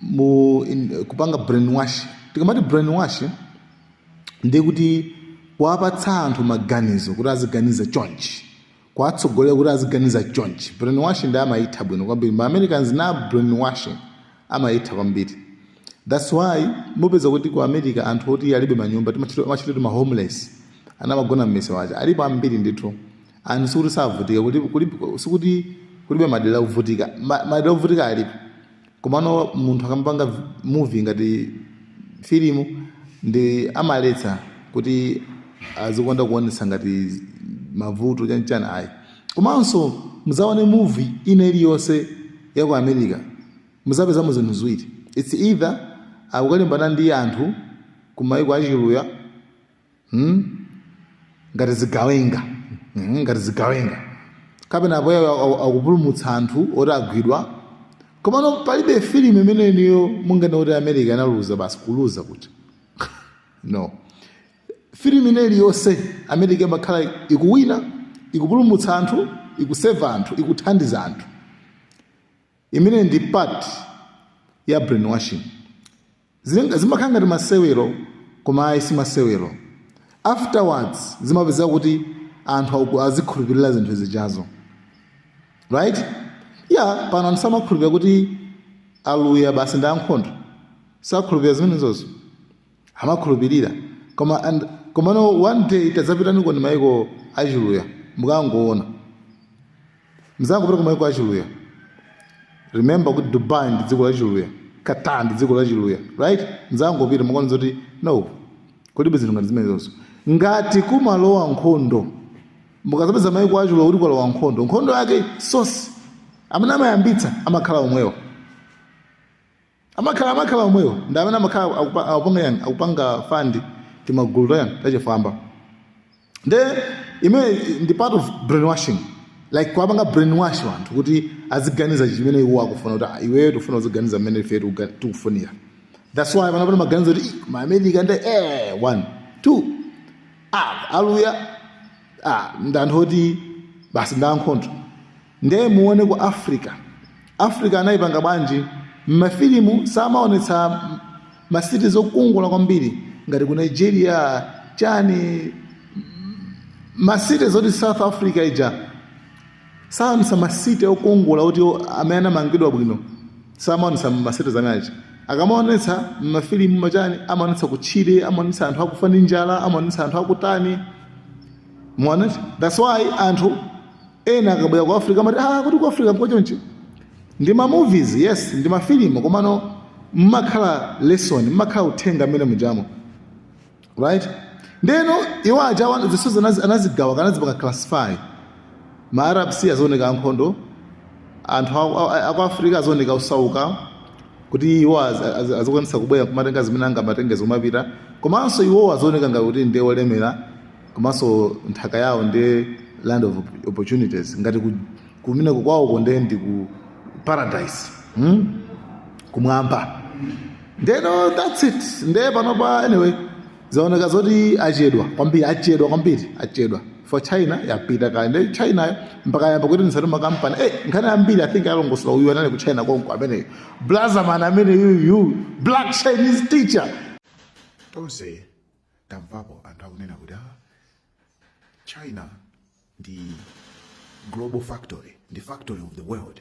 mu in, kupanga brainwash tikamati brainwash ndiye kuti kuwapatsa anthu maganizo kuti aziganiza chonchi kuwatsogolera kuti aziganiza chonchi brainwash ndi amayitha bwino kwambiri ma americans na brainwashing amayitha kwambiri thats why mupeza kuti ku america anthu oti alibe manyumba timachita timachita kuti ma homeless amagona mmisewu chani alipo ambiri ndithu anthu sikuti savutika kuti- kuli- sikuti kulibe madera ovutika Ma- madera ovutika alipo Komano munthu akamapanga vi- movie ngati filimu ndi amaletsa kuti azikonda kuonetsa ngati mavuto chanichani ayi komanso muzaone movie ina iliyonse ya ku america muzapezamo zinthu ziwiri its either akukalimbana ndi anthu kumayiko achiluya hmm? ngati zigawenga hmm? ngati zigawenga kapena apoyayo akupulumutsa anthu oti agwidwa komano palibe filimu imene niyo munganene kuti america analuza basi kuluza kuti no filimu ina iliyonse america imakhala ikuwina ikupulumutsa anthu ikuseva anthu ikuthandiza anthu imene ndi part ya brainwashing Zim- zimakhala ngati masewero koma ayi si masewero afterwards zimapezeka kuti anthu aku- azikhulupirira zinthu zijazo right yeah pano anthu samakhulupirira kuti aluya basi ndi ankhondo sakhulupirira zimenezozo amakhulupirira koma and komano one day tadzapitani ku mayiko achiluya mukangoona mudzangopita kumayiko achiluya remember kuti dubai ndi dziko lachiluya qatar ndi dziko lachiluya right mudzangopita mukaona zoti no kulibe zinthu ngati zimenezozo ngati kumalowa nkhondo mukadzapeza mayiko achiluya kuti kwalowa nkhondo nkhondo yake source amene amayambitsa amakhala omwewo amakhala amakhala omwewo ndi amene amakhala akupa- akupanga yani akupanga fund timagulu tayani tachifwamba nde imene ndi part of brainwashing like kuwapanga brainwash anthu kuti aziganiza chimene iwo akufuna kuti "Ah, iweyo tikufuna uziganiza mmene ife tikuga- tikufunira that's why panopa mumaganiza kuti "Ih, ma america nde eh one two ah aluya ah ndi anthu oti basi ndi ankhondo nde muone ku africa africa anayipanga bwanji mmafilimu samaonetsa masiti zokongola kwambiri ngati ku nigeria chani masiti za ku south africa ija saonetsa masiti okongola oti amene anamangidwa bwino samaonetsa masiti zamachani akamaonetsa mmafilimu machani amaonetsa kutchire amaonetsa anthu akufa ndi njala amaonetsa anthu akutani muoneti that's why anthu ena akabwera ku africa amati ah kuti ku africa nkochonchi ndi ma movies yes ndi mafilimu komano mmakhala lesson mmakhala uthenga amene mujamo right ndeno iwo aja wana- zisuzo anazi- anazigawa kana anazipanga classify ma arabs azioneka ankhondo anthu a- a- a- aku africa azioneka osauka kuti iwo az- az- azikwanisa kubwera kumatenga zimene angamatengezo kumapita komanso iwowo azioneka ngati kuti ndi olemera komanso nthaka yawo ndi land of opportunities ngati ku- kumeneko kwawoko nde ndi ku paradise hmm? kumwamba ndeno that's it nde panopa anyway zaoneka zoti achedwa kwambiri achedwa kwambiri achedwa for china yapita kale nde china mpaka yamba kuti nisati makampani eh nkhani yambiri i think walongosola uyu anali ku china konko ameneyo blazaman amene yuyu black chinese teacher tonse tamvapo anthu akunena kuti ah, china ndi global factory the factory of the world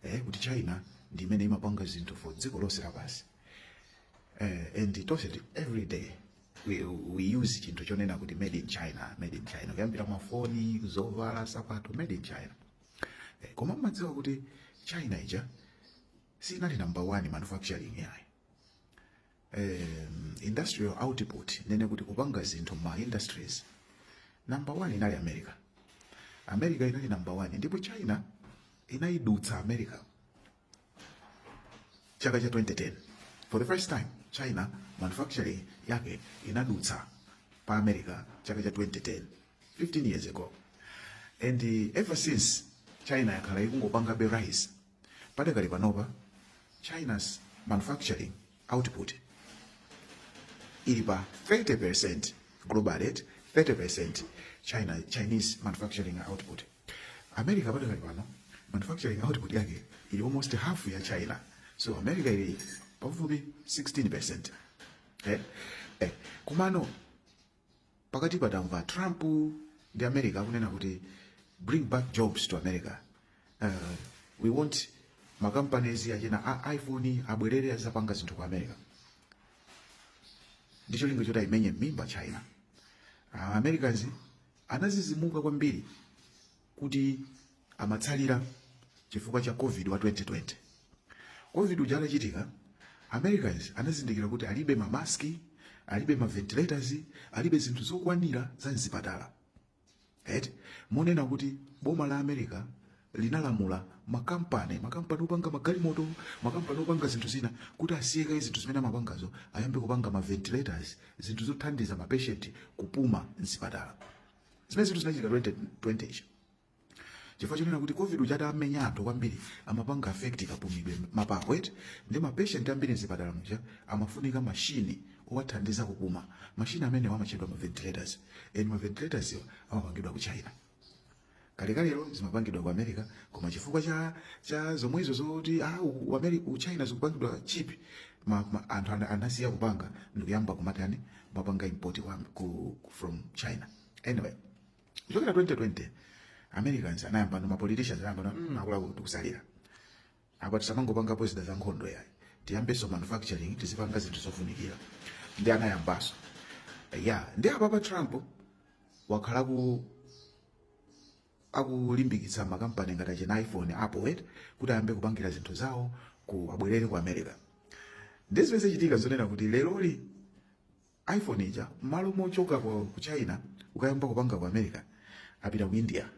eh, kuti china ndi imene imapanga zinthu for dziko lonse lapansi eh, and tonse ti- every day we, we use chinthu chonena kuti made in china made in china kuyambira mafoni zovala sapato made in china eh, koma mmadziwa kuti china ija sinali number one manufacturing yayi um, industrial output kunena kuti kupanga zinthu ma industries number one inali america america inali number one ndipo china inaidutsa america chaka cha 2010 for the first time china manufacturing yake inadutsa pa america chaka cha 2010 15 years ago and uh, ever since china yakhala ikungopangabe rise Padakali panopa, China's manufacturing output ili pa 30% global rate, 30% China, Chinese manufacturing output. America padakali pano manufacturing output yake ili almost half ya China, so America ili pafupifupi 16% Eh? Eh, komano pakadali pano tamva trump ndi america akunena kuti bring back jobs to america uh, we want makampanies achina a iphone abwerere azapange zinthu ku america ndi cholinga choti aimenye mmimba china uh, americans anazizimuka kwambiri kuti amatsalira chifukwa cha covid wa 2020 covid uja atachitika americans anazindikira kuti alibe mamaski alibe maventilators alibe zinthu zokwanira za mzipatala right? moti boma la america linalamula makampani makampani opanga magalimoto makampani opanga zinthu zina kuti asiye kaye zinthu zimene amapangazo ayambe kupanga maventilators zinthu zothandiza mapeshenti kupuma mzipatala zimenezi zinthu zinachitika 2020 ichi chifukwa chonena kuti covid uja utamenya anthu kwambiri amapanga affect kapumidwe mapapo eti ndi mapatient ambiri mzipatala muja amafunika mashini owathandiza kupuma mashini amenewa amatchedwa ma ventilators and ma ventilators awa amapangidwa ku china kalekale zimapangidwa ku america koma chifukwa cha cha zomwezo zoti ah, u- u- Ameri- u china zikupangidwa cheap ma, ma, anthu ana- anasiya kupanga ndikuyamba kumatani kumapanga import kwa, ku, ku- from china anyway kuchokera 2020 americans anayamba ndi mapoliticians anayamba na mm, akuluakulu tikutsalira apa tisamangopangapo zida za nkhondo yayi tiyambenso manufacturing tizipanga zinthu zofunikira ndi anayambanso ya nde apapa trump wakhala ku akulimbikisa makampani ngati achina iphone apple eti kuti ayambe kupangira zinthu zawo ku abwerere ku america ndi zimene zachitika zonena kuti leroli iphone ija mmalo mochoka ku ku china kukayamba kupanga ku america apita ku india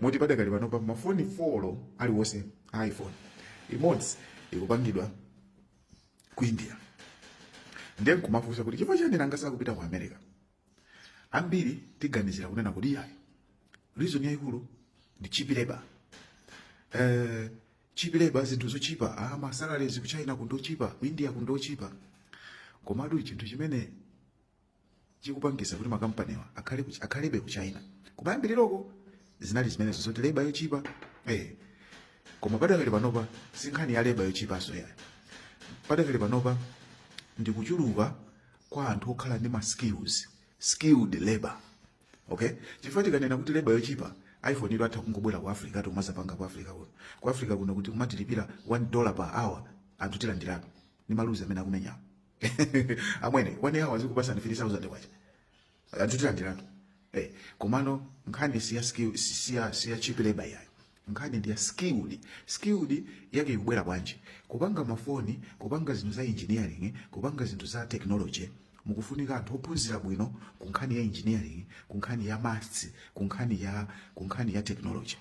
moti padakali panopa mafoni 4 aliwonse a iphone imodzi ikupangidwa ku india ndiye nkumafunsa kuti chifukwa chani nanga sakupita ku america ambiri tiganizira kunena kuti iyayi reason yaikulu ndi cheap labor eh cheap labor zinthu zochipa ah ma salaries ku China kunotchipa ku India kunotchipa komatu chinthu chimene chikupangisa kuti makampaniwa akhale ku- akhalebe ku China kumayambiriroko zinali zimenezo zoti labor yochipa eh koma padakali panopa sinkhani ya labor yochipaso yayi padakali panopa ndi kuchuluka kwa anthu okhala ndi ma skills skilled labor okay chifukwa tikanena kuti labor yochipa iphone iwo atha kungobwera ku africa nkumazapanga ku africa kuno ku africa kuno kuti kumatilipira 1 dollar per hour anthu tilandiratu ni mavuzi amene akumenyawo amwene 1 hour zikupasani 3000 kwacha anthu tilandiratu eh, komano nkhani siya skill siya siya cheap labor yayi nkhani ndi ya skilled skilled yake ikubwera bwanji kupanga mafoni kupanga zinthu za engineering kupanga zinthu za technology kukufunika anthu ophunzira bwino ku nkhani ya engineering ku nkhani ya maths ku nkhani ya ku nkhani ya technology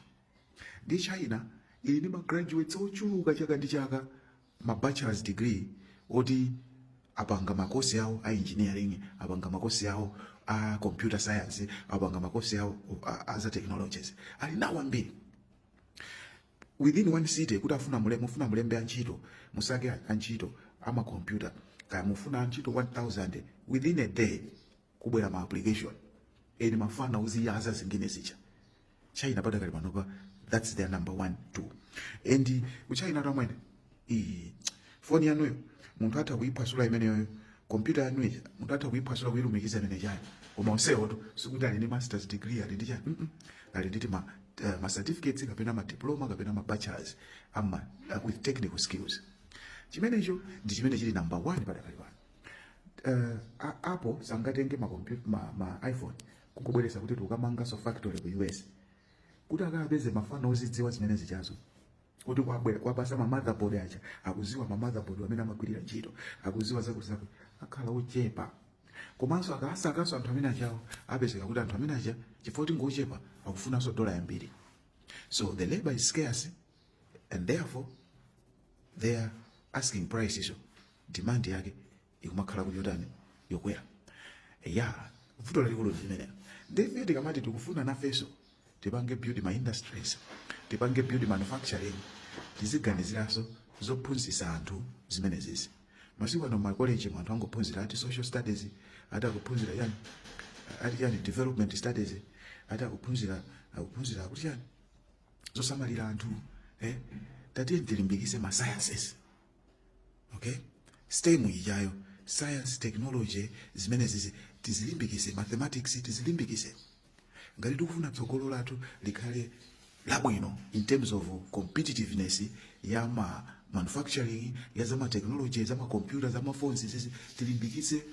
nde china ili ndi magraduates ochuluka chaka ndi chaka ma bachelors degree oti apanga makosi awo a engineering apanga makosi awo a computer science apanga makosi awo a- a za technologies ali nawo ambiri within one city kuti afuna mule mufuna mulembe antchito musake antchito amakompyuta kaya mufuna antchito 1000 within a day kubwera ma application eni mafana uziyaza zinginezi cha china padakali panopa that's their number one two ndi kuchinatu amwene foni yanuyo munthu atha kuyiphwasula imeneyoyo kompyuta yanu ija munthu atha kuyiphwasula kuyilumikiza imene chani koma onsewo sikuti ali ndi masters degree ali ndi chani mm -mm. ali ndi ma, uh, ma certificates kapena ma diploma kapena ma bachelors ama uh, with technical skills chimenecho ndi chimene chili number one padakali pano uh, a- apple sangatenge ma, compu- ma, ma iphone kukubweretsa kuti tikamanganso factory ku us kuti akapeze mafana ozidziwa zimene zijazo kuti kwabwera kwapasa ma motherboard aja akuziwa ma motherboard amene amagwirira ntchito akuziwa zakutizakuti akhala ochepa komanso akasakanso anthu amene ajawo apezeka kuti anthu amene aja chifukwa kuti ngochepa akufunanso dola yambiri so the labor is scarce and therefore their asking price izo demand yake ikumakhala kuti yotani yokwera ya vuto lalikulu limenelo nde ife tikamati tikufuna nafeso tipange build ma industries tipange build manufacturing tiziganiziranso zophunzitsa anthu zimenezizi masiku ano makoleji anthu angophunzira ati social studies ati akuphunzira chani ati chani development studies ati akuphunzira akuphunzira akuti chani zosamalira anthu eh tatiyeni tilimbikise ma sciences okay stem ijayo science technology zimenezizi tizilimbikise mathematics tizilimbikise ngati tikufuna tsogolo lathu likhale labwino in terms of competitiveness ya ma manufacturing ya zama technology zama computer zama phones zizi tilimbikise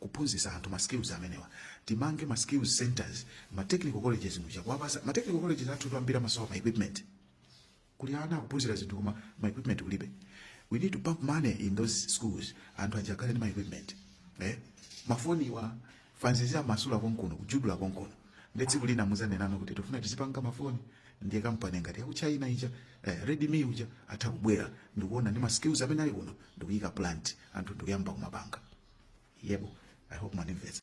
kuphunzisa anthu ma skills amenewa timange ma skills centers ma technical colleges muja kuwapasa ma technical colleges athu ambiri amasowa ma equipment kuli ana akuphunzira zinthu koma ma equipment kulibe we need to pump money in those schools anthu aja akhale ndi ma equipment eh? mafoniwa mafana aziamasula konkuno kujudula konkuno nde tsiku lina muzanena kuti tifuna tizipanga mafoni ndiye kampani ngati yaku china ija eh, redmi uja atha kubwera ndikuona ndi ma skills amene ali kuno ndikuyika plant anthu ndikuyamba kumapanga yebo i hope mwandimvesa